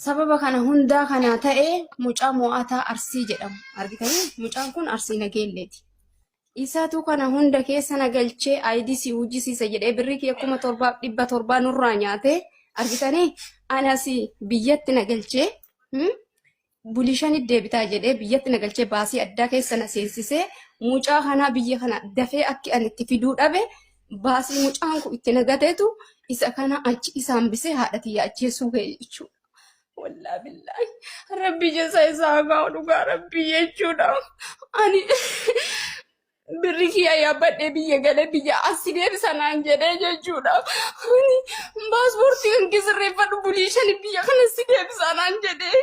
Sababa kana hundaa kana ta'e mucaa mo'ataa Arsii jedhamu. Argitanii mucaan kun Arsii Nageelleeti. Isaatu kana hunda keessa na galchee IDC hojjisiisa jedhee birrii kiyya kuma torbaaf dhibba torbaa nurraa nyaatee argitanii anasi biyyatti na galchee bulii shanit deebitaa jedhee biyyatti na galchee baasii addaa keessa na seensisee mucaa kanaa biyya kana dafee akki ani itti fiduu dhabe baasii mucaan kun itti nagateetu isa kana achi isaan bisee haadha tiyya ajjeesuu ga'e jechuudha. Wallaa billaahi rabbi jesa isaa haa gahu dhugaa rabbi jechuudha. Ani Birri kiyya yaabbadhee biyya galee biyya asii deebisa naan jedhee jechuudha. Ani paaspoortii kan gisirreeffadhu bulii shani biyya kana si deebisa naan jedhee.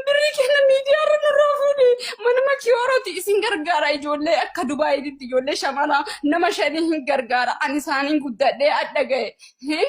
Birri kenna miidiyaa irra nurraa fuudhe. Mana makiyooroti isin gargaara ijoollee akka Dubaayiitti ijoollee shamana nama shanii hin gargaara. Ani isaaniin guddadhee adda gahe.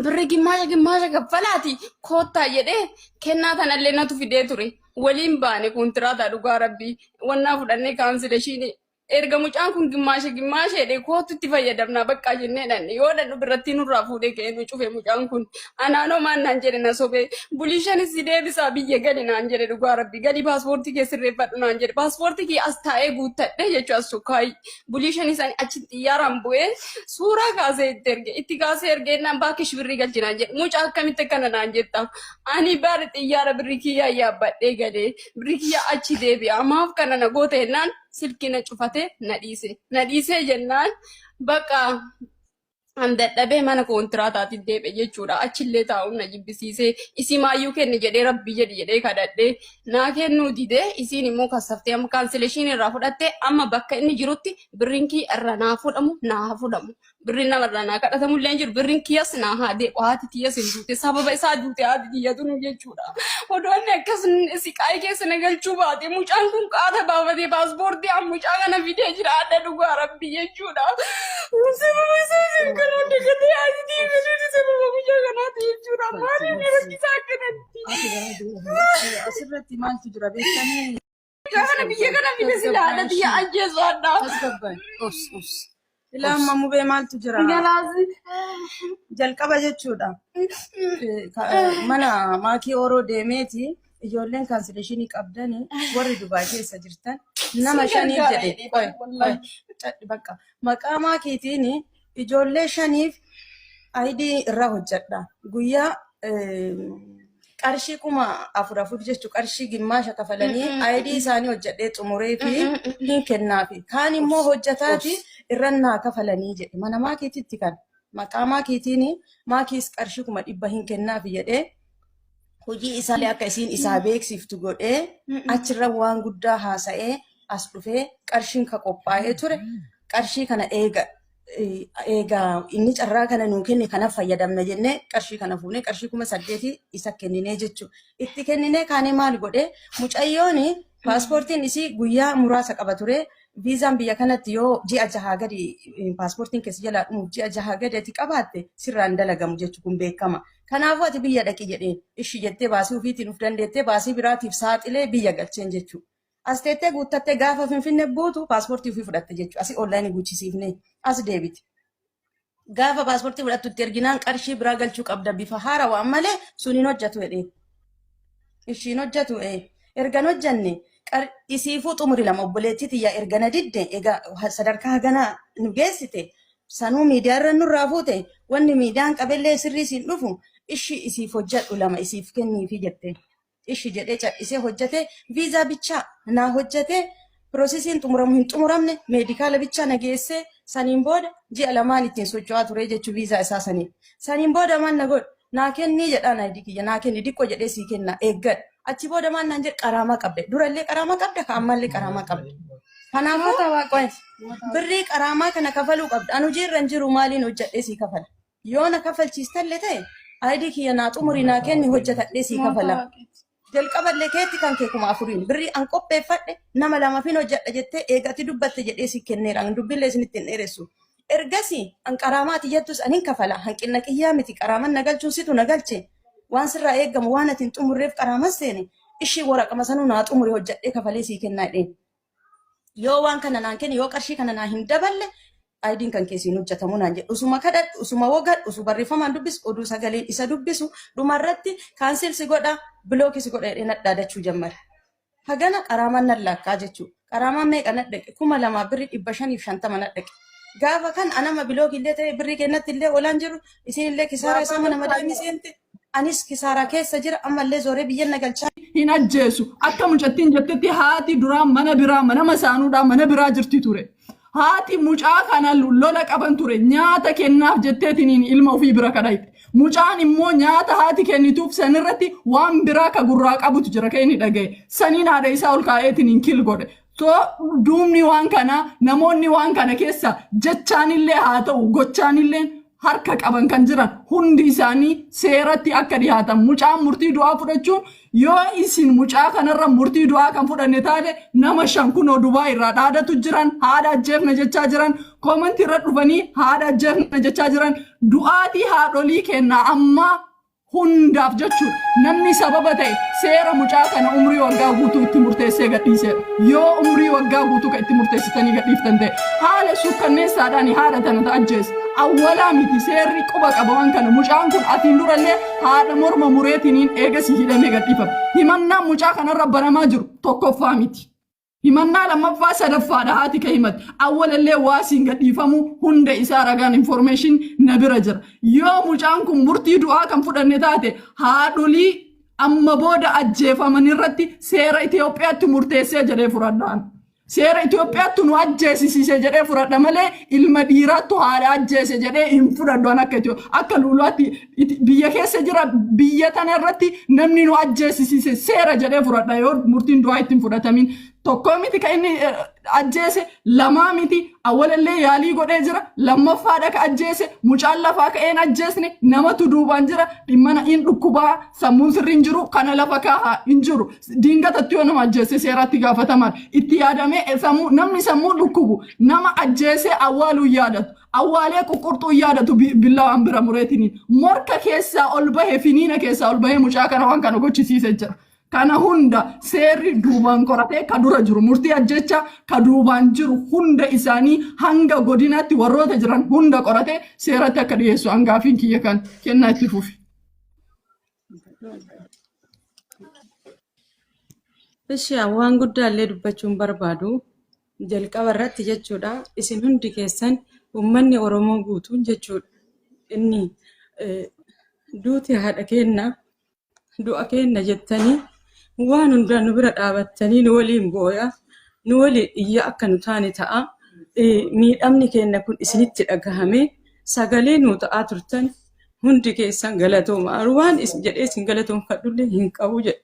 birri gimmaasha gimmaasha kaffalaati koottaa jedhee kennaa tanallee natu fidee ture waliin baane kontiraata dhugaa rabbii wannaa fudhannee kaansileeshiinii erga mucaan kun gimmaasha gimmaasha jedhee koottutti fayyadamnaa baqqaa jennee dhanne yoo dhannu birrattii nurraa fuudhee ka'ee nu cufe mucaan kun anaanoo maan naan jedhe na sobee bulii shanis si deebisaa biyya gali naan jedhe dhugaa rabbii galii paaspoortii kee sirreeffadhu naan jedhe paaspoortii kee as taa'ee guuttadhe jechuu as sukkaayii bulii shanii isaanii achi xiyyaaraan bu'ee suuraa kaasee itti erge itti kaasee erge innaan baakish birrii galchinaan jedhe mucaa akkamitti kana naan jetta ani baari xiyyaara birrii kiyyaa yaabbadhee galee birrii kiyyaa achi deebi'a maaf kana na goota jennaan silkii na cufatee na dhiise na dhiisee jennaan bakka an dadhabee mana kontiraataatiin deebi'e jechuudha. Achillee taa'uun na jibbisiisee isimaayyuu kenni jedhee rabbii jedhi jedhee kadhadhee naa kennuu didee isiin immoo kassaftee amma kaansileeshiin irraa fudhattee amma bakka inni jirutti birriin kiyya irraa naa fudhamu naa haa fudhamu. Birriin nama irraa naa kadhatamu illee hin jiru birriin kiyyas naa haa deebi'u haati tiyyas hin duute sababa isaa duute haati tiyyatu nu jechuudha. Odoo inni akkas siqaayii keessa na galchuu baate mucaan kun qaata baafatee paaspoortii an mucaa kana fidee jira adda dhugaa rabbi jechuudha. Sababa isaa isin karaa dagatee asitii fiduun sababa mucaa kanaati jechuudha. Maaliif ni rakkisaa akkanatti? Asirratti maaltu jira beektanii? Kana biyya kana fide sila haadha biyya ajjeesu adda. Tasgabbaa'e. Obs, obs. Ilaa amma mubee maaltu jira? Galaasi. Jalqaba jechuudha. Ka- Mana maakii oroo deemeeti ijoolleen kaansileeshinii qabdanii warri Dubaay keessa jirtan nama shanii jedhe. Qoy, qoy, cadhi bakka. Maqaa maakiitiin Ijoollee shaniif ayidii irraa hojjedha. Guyyaa qarshii kuma afur afur jechuun qarshii gimmaasha kafalanii ayidii isaanii hojjedhee xumuree fi hin kennaafi. Kaan immoo hojjetaati irra naa kafalanii jedhe. Mana maakiititti kan maqaa maakiitiin maakiis qarshii kuma dhibba hin kennaafi jedhee Hojii isaallee akka isiin isaa beeksiftu godhee achirra waan guddaa haasa'ee as dhufee qarshiin ka qophaa'ee ture qarshii kana eega eega inni carraa kana nuu kenne kana fayyadamna jennee qarshii kana fuunee qarshii kuma saddeeti isa kenninee jechuu itti kenninee kaanee maal godhee mucayyoon paaspoortiin isii guyyaa muraasa qaba ture Viizaan biyya kanatti yoo ji'a jahaa gadi paaspoortiin keessa jalaa dhumuuf ji'a jahaa gadi ati qabaatte sirraa hin dalagamu jechuun kun beekama. Kanaafuu ati biyya dhaqi jedheen ishi jettee baasii ofiitiin of dandeettee baasii biraatiif saaxilee biyya galcheen jechuudha. As teettee guuttattee gaafa finfinne buutu paaspoortii ofii fudhatte jechuudha. Asi onlaayinii guuchisiifnee as deebite. gaafa paaspoortii fudhattu itti erginaan qarshii biraa galchuu qabda bifa haarawaan malee sun hin hojjetu jedhee. Ishiin hojjetu ee ergan hojjenne qar- isiifuu xumuri lama obboleettii tiyyaa erga na didde egaa ha- sadarkaa haganaa nu geessite sanuu miidiyaa irra nurraa fuute wanni miidiyaan qabellee sirrii siin dhufu ishii isiif hojjedhu lama isiif kenniifi jette. ishi jedhee cadhisee hojjatee viizaa bichaa naa hojjatee piroosesiin xumuramu hin xumuramne meedikaala bichaa na geessee saniin booda ji'a lamaan ittiin socho'aa turee jechuu viizaa isaa saniin. Saniin booda maal na godhe naa kennii jedhaan ayidii kiyya naa kenni diqqoo jedhee sii kennaa eeggadhu. Achi booda maal naan jedhe qaraamaa qabda durallee qaraamaa qabda ka ammaallee qaraamaa qabda. Kanaafuu birrii qaraamaa kana kafaluu qabda an hojii irra hin jiru maaliin hojjadhee sii kafala. Yoo na kafalchiistalle ta'e ID kiyya naa xumuri naa kenni hojjetadhee sii kafala. Jalqaballe keetti kan kee kuma afuriin birrii an qopheeffadhe nama lamafin hojjedha jettee eega ati dubbatte jedhee sii kenneera an dubbillee isinitti hin dheeressu. Ergasii an qaraamaa ati jattus an hin kafala hanqinna kiyyaa miti qaraaman na galchuun situ na galche waan sirraa eegamu waan ati hin xumurreef qaraaman seene ishii woraqama sanuu naa xumuri hojjedhee kafalee sii kenna jedheen. yoo waan kana naan kenne yoo qarshii kana naa hin daballe ayidiin kan keessi hin hojjetamu naan jedhu usuma kadhadhu usuma wogadhu usu barreeffamaan dubbisu oduu sagaleen isa dubbisu dhumarratti kaansil si godha bilookii si godha jedhee nadhaadachuu jammara. Hagana qaraamaan nan laakkaa jechuudha. Qaraamaan meeqa nadhaqe kuma lamaa birri dhibba shaniif shantama nadhaqe. Gaafa kan anama bilookii illee ta'e birrii kennatti illee olaan jiru isin illee kisaaraa isaa mana madaamii seente. Anis kisaaraa keessa jira ammallee zooree biyyan na galchaa. hin ajjeesu. Akka mucattiin jettetti haati duraa mana biraa mana masaanuudhaa mana biraa jirti ture. Haati mucaa kana lola qaban ture. Nyaata kennaaf jetteetiniin ilma ofii bira kadhayxe. Mucaan immoo nyaata haati kennituuf sanirratti waan biraa ka gurraa qabutu jira ka inni dhagaye. Saniin haadha isaa ol kaa'eetiniin kill godhe. Too duubni waan kanaa namoonni waan kana keessa jechaanillee haa ta'u gochaanilleen harka qaban kan jiran hundi isaanii seeratti akka dhihaatan mucaan murtii du'aa fudhachuun yoo isin mucaa kanarra murtii du'aa kan fudhanne taate nama shan kunoo dubaa irraa dhaadatu jiran haadha ajjeefna jechaa jiran koomantii irra dhufanii haadha ajjeefna jechaa jiran du'aatii haadholii kennaa ammaa hundaaf jechuun namni sababa ta'e seera mucaa kana umrii waggaa guutuu itti murteessee gadhiiseedha. Yoo umrii waggaa guutuu kan itti murteessitanii gadhiiftan ta'e haala suukkanneessaadhaan haadha tana ta ajjeese awwalaa miti seerri quba qaba waan kana mucaan kun asiin durallee haadha morma mureetiniin eegasii hidhamee gadhiifame. Himannaan mucaa kanarra banamaa jiru tokkoffaa miti. Himannaa lammaffaa sadaffaadha haati ka himate. Awwalallee waasiin gadhiifamu hunda isaa ragaan information na bira jira. Yoo mucaan kun murtii du'aa kan fudhanne taate haadholii amma booda ajjeefaman irratti seera Itoophiyaatti murteessee jedhee fudhadhaan. Seera Itoophiyaatti nu ajjeesisiise jedhee fudhadha malee ilma dhiiraattu haadha ajjeese jedhee hin fudhadhu an akka Itoo- akka luulaatti Iti- biyya keessa jira biyya tana irratti namni nu ajjeesisiise seera jedhee fudhadha yoo murtiin du'aa ittiin fudhatamin tokkoo miti ka inni eh, ajjeese lamaa miti awwalallee yaalii godhee jira lammaffaadha ka ajjeese mucaan lafaa ka'ee hin ajjeesne namatu duubaan jira dhimma na- hin dhukkubaa sammuun sirri hin jiru kana lafa kaahaa hin jiru diingatatti yoo nama ajjeese seeraatti gaafatamaan itti yaadamee eh, sammuu- namni sammuu dhukkubu nama ajjeesee awwaaluu hin yaadatu Awwaalee quqqurxuun yaadatu bi- billawaan bira mureetini. Morka keessaa ol bahe finiina keessaa ol bahee mucaa kana waan kana gochisiise jira. Kana hunda seerri duubaan qoratee ka dura jiru murtii ajjecha ka duubaan jiru hunda isaanii hanga godinaatti warroota jiran hunda qoratee seeratti akka dhiyeessu hangaafiin kiyya kan kennaa itti fufi. Ishi waan guddaa illee dubbachuun barbaadu jalqaba irratti jechuudha. Isin hundi keessan uummanni Oromoo guutuun jechuudha. Inni eh, duuti haadha keenna du'a keenna jettanii waan hundaa nu bira dhaabattanii nu waliin booya nu waliin iyya akka nu taane ta'a. Eh, Miidhamni keenna kun isinitti dhagahame sagalee nu ta'aa turtan Hundi keessan galatooma. Arwaan is jedhee isin galatoomfadhullee hin qabu jedhe.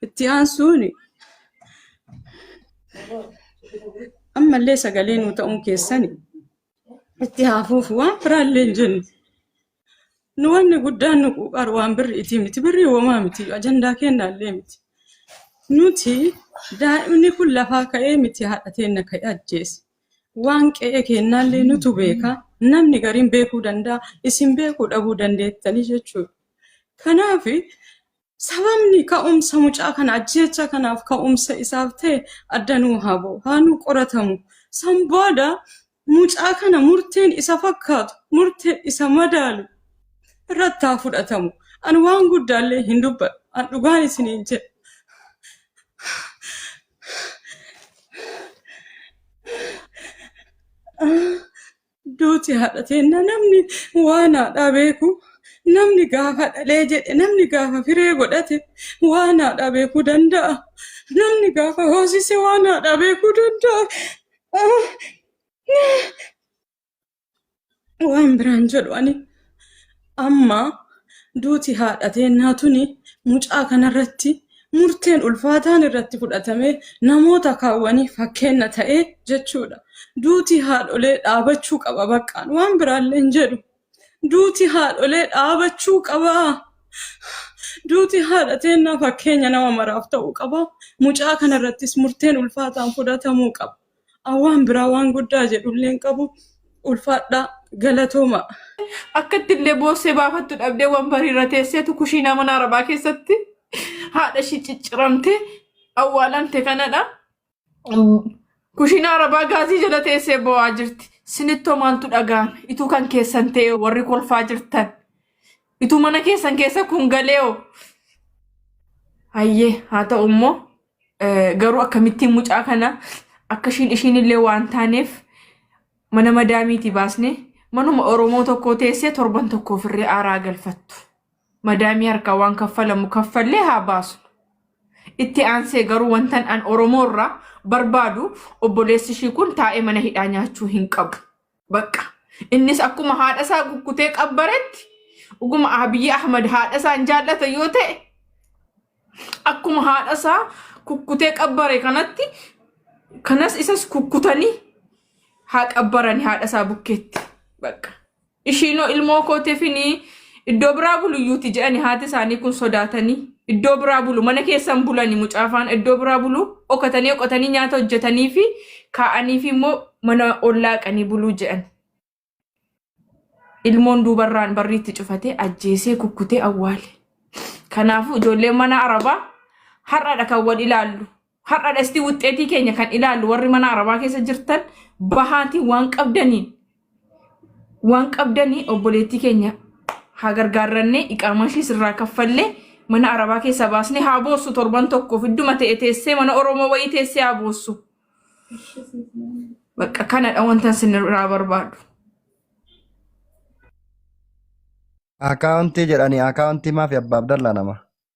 Itti aansuun ammallee sagalee nuu ta'uun keessan itti haafuuf waan biraallee hin jennu. Nu wanni guddaan nu quuqaru waan birri itii miti. Birrii homaa miti. Ajandaa kennaallee miti. Nuti daa'imni kun lafaa ka'ee miti haadha teenna ka'ee ajjeese. Waan qe'ee keennaallee nutu beeka. Namni gariin beekuu danda'a. Isin beekuu dhabuu dandeettanii jechuudha. Kanaaf sababni ka'umsa mucaa kana ajjeechaa kanaaf ka'umsa isaaf ta'e adda nuu haa ba'u. Haa nuu qoratamu. San booda mucaa kana murteen isa fakkaatu, murteen isa madaalu irratti haa fudhatamu. Ani waan guddaallee hin dubbadhu. An dhugaan isiniin jedha. Duuti haadha teenna namni waan haadhaa beeku namni gaafa dhalee jedhe namni gaafa firee godhate waan haadhaa beekuu danda'a. Namni gaafa hoosise waan haadhaa beekuu danda'a. Waan biraan jedhu ani amma duuti haadha teennaa tuni mucaa kanarratti murteen ulfaataan irratti fudhatamee namoota kaawwanii fakkeenna ta'e jechuudha. Duuti haadholee dhaabachuu qaba baqqaan waan biraallee hin jedhu. Duuti haadholee dhaabachuu qaba. Duuti haadha teennaa fakkeenya nama maraaf ta'uu qaba. Mucaa kanarrattis murteen ulfaataan fudhatamuu qaba. Waan biraa waan guddaa jedhullee hin qabu. Ulfaadhaa galatooma. Akkatti illee boossee baafattu dhabdee wambarii irra teesseetu kushiinaa mana arabaa keessatti haadha ishii cicciramte awwaalante kanadha. Kushiinaa arabaa gaazii jala teessee boo'aa jirti. Sinittoo maaltu dhaga'ame? Ituu kan keessan ta'e warri kolfaa jirtan. Ituu mana keessan keessa kun galee'o. Hayyee haa ta'u immoo Garuu akkamittiin mucaa kana akka ishiin ishiin illee waan taaneef mana madaamiitii baasne manuma Oromoo tokkoo teessee torban tokko ofirree aaraa galfattu. Madaamii harkaa waan kaffalamu kaffallee haa baasnu. Itti aansee garuu wantan an Oromoo irraa barbaadu obboleessi ishii kun taa'ee mana hidhaa nyaachuu hin qabu. Bakka. Innis akkuma haadha isaa kukkutee qabbaretti dhuguma Abiyyi Ahmad haadha isaa hin jaallata yoo ta'e akkuma haadha isaa kukkutee qabbare kanatti kanas isas kukkutanii haa qabbarani haadha isaa bukkeetti. Bakka. Ishiinoo ilmoo kootifinii Iddoo biraa bulu iyyuuti jedhani haati isaanii kun sodaatanii iddoo biraa bulu mana keessan bulani mucaafaan iddoo biraa bulu dhokatanii dhokatanii nyaata hojjetanii fi kaa'anii fi immoo mana ollaaqanii buluu jedhan. Ilmoon duubarraan barriitti cufatee ajjeesee kukkutee awwaale. Kanaafuu ijoolleen mana arabaa har'aadha kan wal ilaallu. Har'a dhasti wuxxeetii keenya kan ilaallu warri mana arabaa keessa jirtan bahaatii waan qabdaniin waan qabdanii obboleettii keenya haa gargaarrannee iqaamaa ishiis irraa kaffallee mana arabaa keessaa baasnee haa boossu torban tokkoof idduma ta'e teessee mana Oromoo wayii teessee haa boossu. Bakka kanadha wanta isin irraa barbaadu. Akaawuntii jedhanii akaawuntii maafi abbaa Abdallaa nama.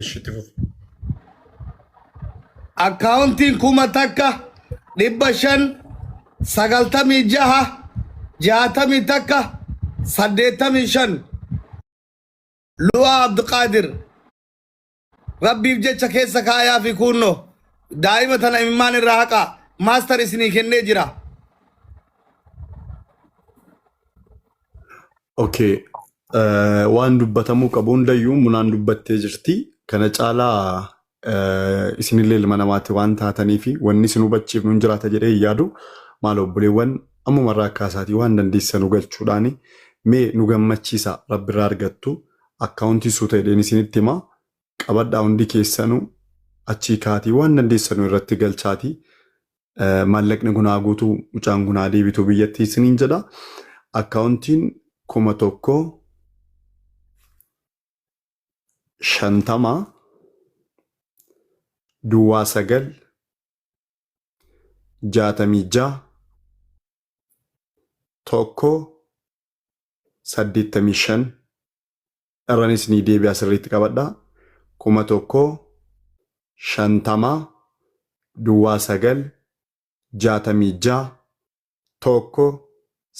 Ishi itti fufi. akkaawuntiin kuma takka dhibba shan sagaltamii jaha jaatamii takka saddeettamii shan lu'aa abduqaadir rabbiif jecha keessa kaayaa fi kuunno daa'ima tana imimmaan irraa haqa maastar isinii kennee jira Okay. Eh, Waan dubbatamuu qabu hundayyuu munaan dubbattee jirti. Kana caalaa eh, isinillee ilma namaati waan taataniif wanni isin hubachiifnu hin jiraata jedhee hin yaadu. Maal obboleewwan ammumarraa akka isaatii waan dandeessanu galchuudhaan mee nu gammachiisa rabbirraa argattu akkaawuntii suuta jedheen isinitti hima. Qabadhaa hundi keessanu achii kaatii waan dandeessanu irratti galchaatii maallaqni kun haa guutu mucaan kun haa deebitu biyyatti isiniin jedha akkaawuntiin kuma tokko shantama duwwaa sagal jaatamii ja'a tokko saddeettamii shan irran isinii deebi'a sirriitti qabadha kuma tokko shantama duwwaa sagal jaatamii ja'a tokko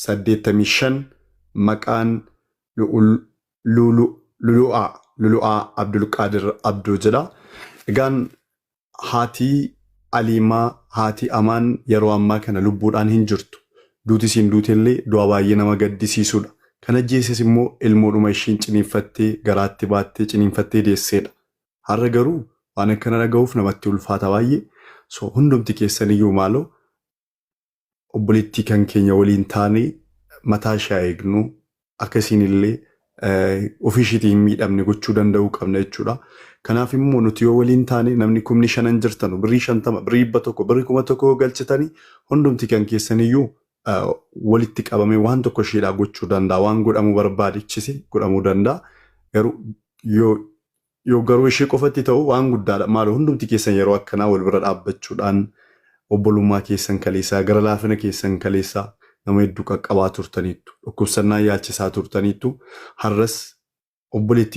saddeettamii shan maqaan lu'ul lulu lulu'aa lulu'aa abdulqaadir abdoo jedha egaan Haati Aliimaa, haati Amaan yeroo ammaa kana lubbuudhaan hin jirtu. Duuti isiin duutellee du'a baay'ee nama gaddisiisudha. Kan ajjeeses immoo ilmoodhuma ishiin ciniinfattee garaatti baattee ciniinfattee deesseedha. Har'a garuu waan akkana dhagahuuf namatti ulfaata baay'ee. So hundumti keessaniyyuu maaloo obboleettii kan keenya waliin taanee mataa ishee haa eegnu akka isiin illee ofii ishiitii hin miidhamne gochuu danda'uu qabna jechuudha. Kanaaf immoo nuti yoo waliin taane namni kumni shanan jirtanu birrii shantama birrii dhibba tokko birrii kuma tokko yoo galchitanii hundumti kan keessaniyyuu walitti qabamee waan tokko ishiidhaa gochuu danda'a waan godhamuu barbaadichise godhamuu danda'a garuu yoo Yoo garuu ishee qofatti ta'u waan guddaadha. Maaloo hundumti keessan yeroo akkanaa wal bira dhaabbachuudhaan obbolummaa keessan kaleessaa, gara laafina keessan kaleessaa nama hedduu qaqqabaa turtaniittu. Dhukkubsannaa yaalchisaa turtaniittu. Har'as obboleettii.